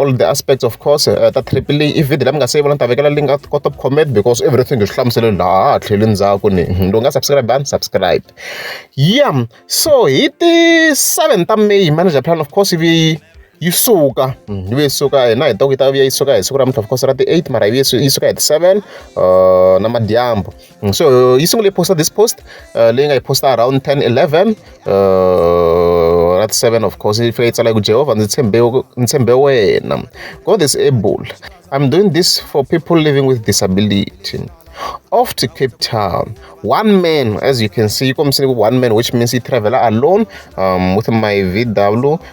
all the aspects of course uh, ta triple i video leyi mi nga se yi vona ni ta vekela link at kota ku comment because everything hi swi hlamusele laha tlheli ndzhaku ni hmm, lowu nga subscribe and subscribe yeah so hi ti 7 ta may manager plan of course ivi yi suka hmm, yi ve yi suka hina hi ta ku yi ta vuya yi suka hi siku ra mintlha of course ra ti-eight mara yi vuye yi suka hi ti-seven uh, na madyambu Mm, so yi sungule yi posta this post uh, leyi nga yi posta around 10 11 uh, rat 7 of course yi fika yi tsala ku jehovha ndzi tshembe ndzi tshembe wena god is able i'm doing this for people living with disability off to Cape Town. One man, as you can see, you come see one man, which means he travel alone um, with my VW.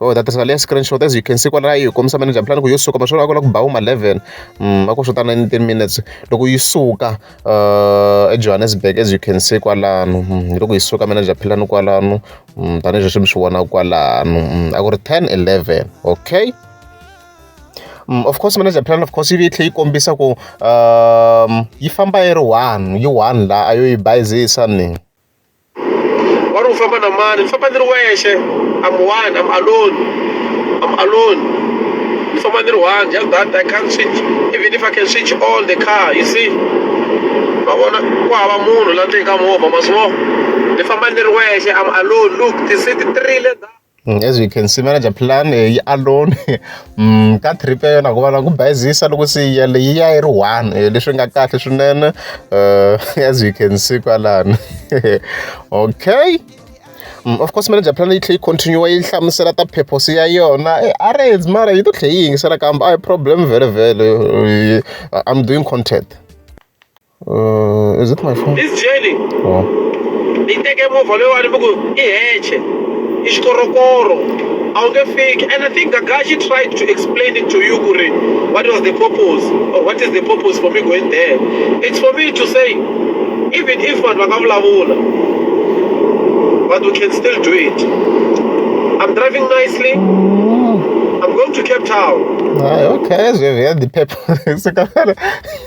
oh that is leya screenshot as you can see kwalaya yi hi kombisa manager plan ku yo suka maswona a ku la ku ba ma 11 mm, a ku swo ta 19 minutes loko yi suka uh, ejohannesburg as you can see kwalano mm, loko yi suka manager plan kwalano mm, tanihi leswi mi swi vonaka kwalano a ku ri 10 11 okay Mm, of course manager plan of course yi tlhe yi kombisa ku um yi famba yi ri one yi one la a yo yi bayizisa ni wari u famba na mani ni famba ni ri wexe am one am alone am alone ni famba ni ri one just that i can't switch even if i can switch on the car you see ma vona ku hava munhu la ndzeni ka movha ma swi vona ni famba ni ri wexe am alone look ti-seat ti rile . Mm, as we can see manager plan eh, yi alone mm, ka trip ya yona hikuva na ku bayizisa loko se yi yale yi ya yi ri one eh, leswi nga kahle swinene eh, as we can see kwalani okay mm, of course manager plan yi tlhe yi continue yi hlamusela ta purpose ya yona arrange mara yi to tlhe yi yingisela kambe a problem vhele vhele i'm doing content Uh, is it my phone? This jelly. Oh. Ni teke movha leyiwani mi ku i heche i xikorokoro a wu nge fiki and i think gagashi tried to explain it to you ku ri what was the purpose or what is the purpose for me going there it's for me to say even if vanhu va nga vulavula but we can still do it i'm driving nicely mm. i'm going to cape town ah, okay so you had the purpose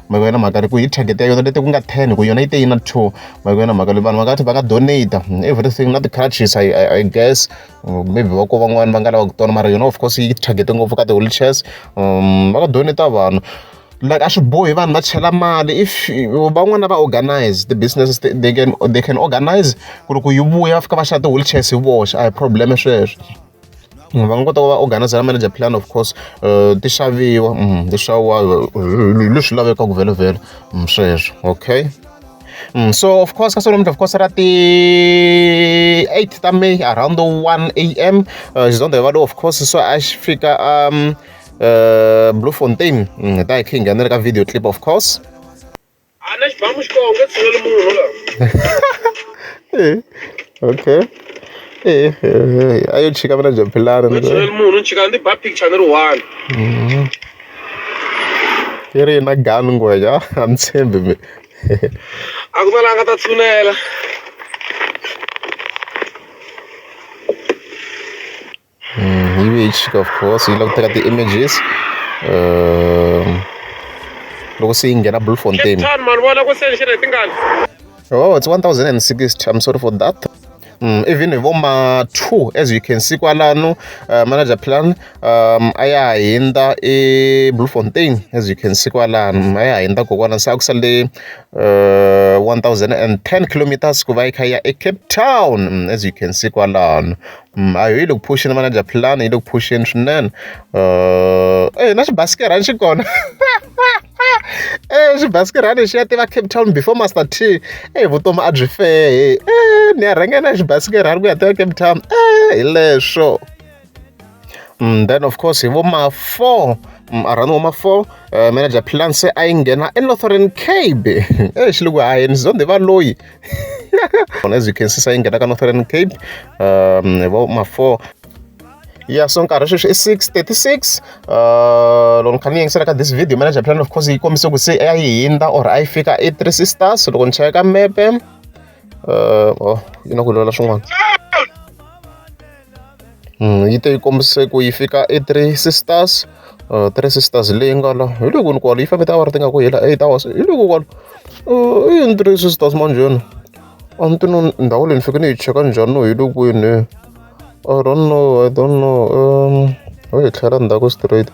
ma vona mhaka leyi ku hi target ya yona leti ku nga ten ku yona yi te yi na two ma vona mhaka leyi vanhu va nga tlhela va nga donate mm, everything na ti-crutches I, I, I guess mm, maybe va ko van'wani va nga lava ku tona mara yona of course yi target ngopfu ka ti-wheelchairs um va nga donate vanhu like a swi bohi vanhu va chela mali if van'wana va organize ti-businesses they can, they can organize ku ri ku yi vuya va fika va xava ti-wheelchairs hi voxe a hi problem sweswo va nga kota ku va organizer manager plan of course eh, ti xaviwa mm, ti xaviwa eh, leswi lavekaka vhelovhelo mm, sweswo okay Mm, so of course ka solomuti of course ra ti-8 ta may around 1 am uh, xizondha valo of course so a xi fika um uh, blue fontain mm, hi ta hi khe hi nghenele ka video clip of course Ana xibamu xi kona u nge tshuneli munhu la. Eh, okay. Eh, eh, eh, a yo chika mina jampilani. U nge tshuneli munhu ni chika ni ba picture ni ri one. Mhm. Yi ri na gun ngwenya, a ni tshembi mina. A ku na la nga ta tshunela. hi which of course yi la ku teka ti-images um loko se yi nghena blue fontain oh it's 1060 i'm sorry for that Mm, even hi vo ma two as you can see kwalano uh, manager plan um, a ya ha hindza eblue fontain as you can see kwalano a ya ha hindza kokwana se a ku sale uh, 1010 kilometers ku va yi kha ya ecape town mm, as you can see kwalano a yi le ku phuxeni vana dya philani yi le ku phuxeni swinene e na xibasikirhani xi kona e xibasikirhani xi ya tiva cape town before master t e vutomi a byi fehe e ni ya rhenge na xibasikirhani ku ya tiva cape town e hi leswo mm, then of course hi vo ma four mm, around vo ma four uh, manager plan se a yi nghena enorthern cabe e xi le ku hayeni zondhe va loyi as you can see sayi nghena ka northern cape um hi vo ma four ya so nkarhi sweswi i six thirty six uh, loko ni kha ni yingisela ka this video manager plan of course yi kombise ku se a yi hindza or a yi fika i three sisters loko ni cheka mepe uh, oh yi na ku lwela swin'wana yi te yi kombise ku yi fika e three sisters uh, three sisters leyi nga la hi loko ni kwalo yi fanele ta va ri ti nga ku hela eight hours hi loko kwalo uh, i yini three sisters manjheni a ni ti no ndhawu leyi ni fike ni yi cheka njhani no hi lokwini i don't know i don't know um ho yi tlhela ndzhaku straight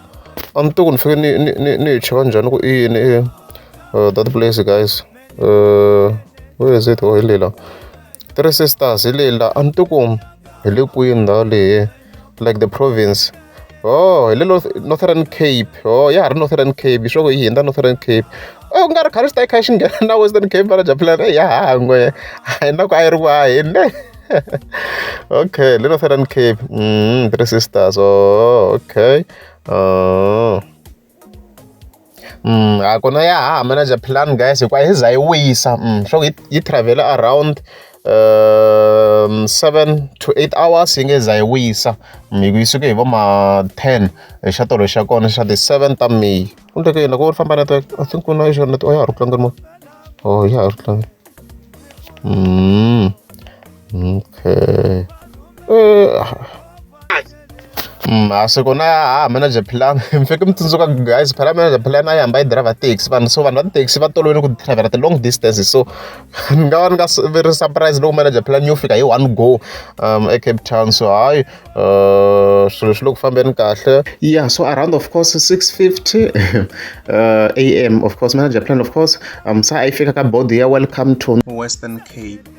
a ni to ku ni fike ni ni ni ni yi cheka njhani ku i yini uh, that place guys uh, where is it oh hi lela Three sisters hi leyi la a ni tiku hi le kwini ndhawu leyi like the province oh hi le northern cape oh ya ha ri northern cape swa ku yi hundza northern cape o oh, ku nga ri khale swi ta yi kha xi nghena na western cape va raja plan ya hangwe a yi na ku a yi ri ku a hi ne okay le northern cape mm, three sisters oh okay oh. Mm, a kona ya ha manager plan guys hikuva yi za yi wisa mm, swa ku yi, yi travel around um, seven to eight hours yi nge za yi wisa mm, yi suke hi vo ma ten hi xa tolo xa kona xa ti-seven ta may ku ndleke yini loko u ri famba network i think ku na yi xona network ya ha ri ku tlangeni mo o ya ha ri ku tlangeni mm. Okay. Uh. masiku na ha manager plan mi fike mi tsundzuka guys phela manager plan a yi hamba yi driver taxi vanhu so vanhu va taxi va tolovele ku driver the long distances so ni nga va ni nga ri surprise loko manager plan yo fika hi one go um ecape town so hayi uh, swilo swi le ku fambeni kahle yeah so around of course 650 uh, am of course manager plan of course um sa a yi fika ka body ya welcome to western cape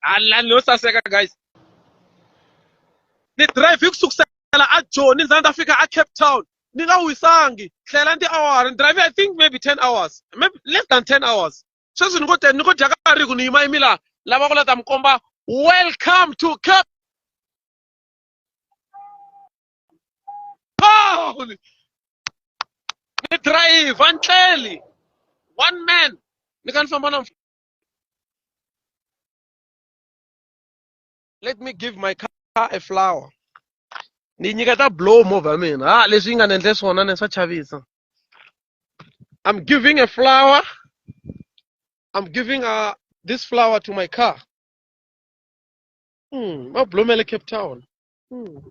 halani yo saseka guys ni drive hi ku sukusela a joni ndza ndza fika a cape town ni nga wisangi tlhela ndi awara ni drive i think maybe ten hours maybe less than ten hours sweswi ni ngo te ni ngo dya ka ri ku ni yima yimi laha lava ku leta mi komba welcome to cape town ni drive ni tleli one man ni ka ni famba na let me give my car a flower ni nyiketa blow movha mina ha leswi yi nga ni endle swona ni swa chavisa i'm giving a flower i'm giving a, uh, this flower to my car mm, ma blomele cape town mm.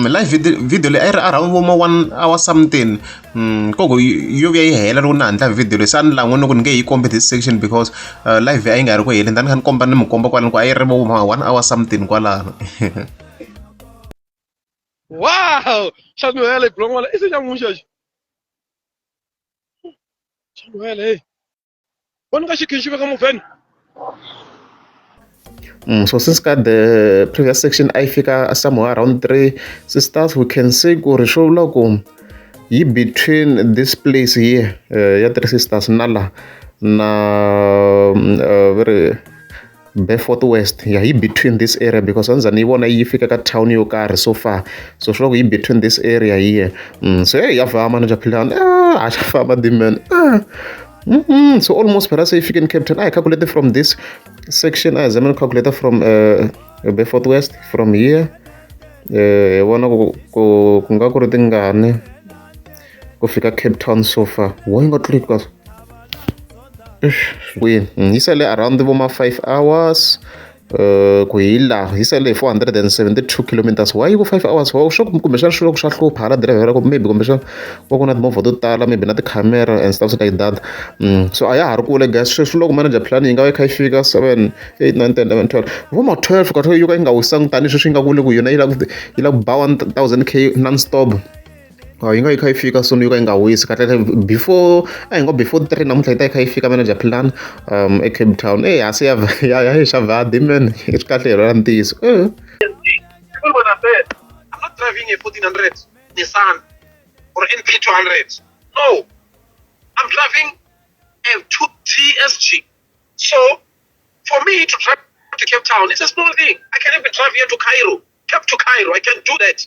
mi live video video leyi a yi ri around vo ma one hour something mm, koko yo vuya yi hela loko ni handla video leyi se a ni lan'we ni ku ni nge yi kombe this section because uh, live a yi nga ri ku heleni tani kha ni komba ni mi komba kwalani ku a yi ri vo ma one hour something kwalano wow xanuhele gulon'wana i se xa n'wuxaxi xanuhele Quando que que vai como vem? Mm, so since ka the previous section a yi fika somewhere around 3 sisters we can say ku ri swo vula ku yi between this place here uh, ya three sisters na la na uh, Beaufort West ya yi between this area because a ndzi za ni yi vona yi fika ka town yo karhi so far so swi vula ku yi between this area here mm, so hey ya famba na japhilani ah a xa famba diman ah Mm -hmm. so almost phela se yi fike ni captain i calculated from this section i zama ni calculator from uh, beaufort west from here eh, hi vona ku nga ku ri tingani ku fika cape town so far why yi nga tluli ka kwini yi sale around vo ma five hours um ku hi laha yi sale hi four hundred and seventy two kilometers why yi ku five hours wa swa kumbexana swi loko swa hlupha hala driver loko maybe kumbexana va ku na timovha to tala maybe na tikhamera and stuff like that mm, so a ya ha ri kule gas sweswi loko manager plan yi nga va yi kha yi fika seven eight nine ten eleven twelve vo ma twelve ka yo ka yi nga wisangi tanihi sweswi yi nga kule ku yona yi la ku yi la ku ba one thousand k non stop yi nga yi kha yi fika soon yo ka yi nga wisi kahlekahle before a hi ngo before three namuntlha yi ta yi kha yi fika manager philani eCape Town eyi ha se ya ya ya yi xava haha Dmin i swi kahle hi lwela ntiyiso driving a 1400 Nissan or NP 200 no I'm driving a 2 TSG so for me to drive to Cape Town it's a small thing I can even drive here to Cairo Cape to Cairo I can do that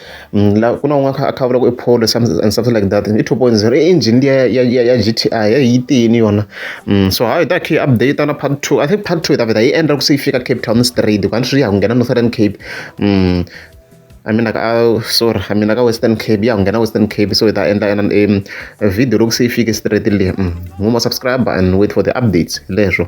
la ku na un'wana a kha a kha a vula ku i polo and something like that i two point zero i engine liya ya ya ya G_T_I a yi tiyini yona so ha yi ta yi kha yi update na part two I think part two hi ta vheta yi endla ku se yi fika Cape Town straight hikuva a ni swi ya ku nghena Northern Cape I mean like a sorry I mean like a Western Cape ya ku nghena Western Cape so hi ta endla ena video loko se yi fike straight le huma subscriber and wait for the updates leswo.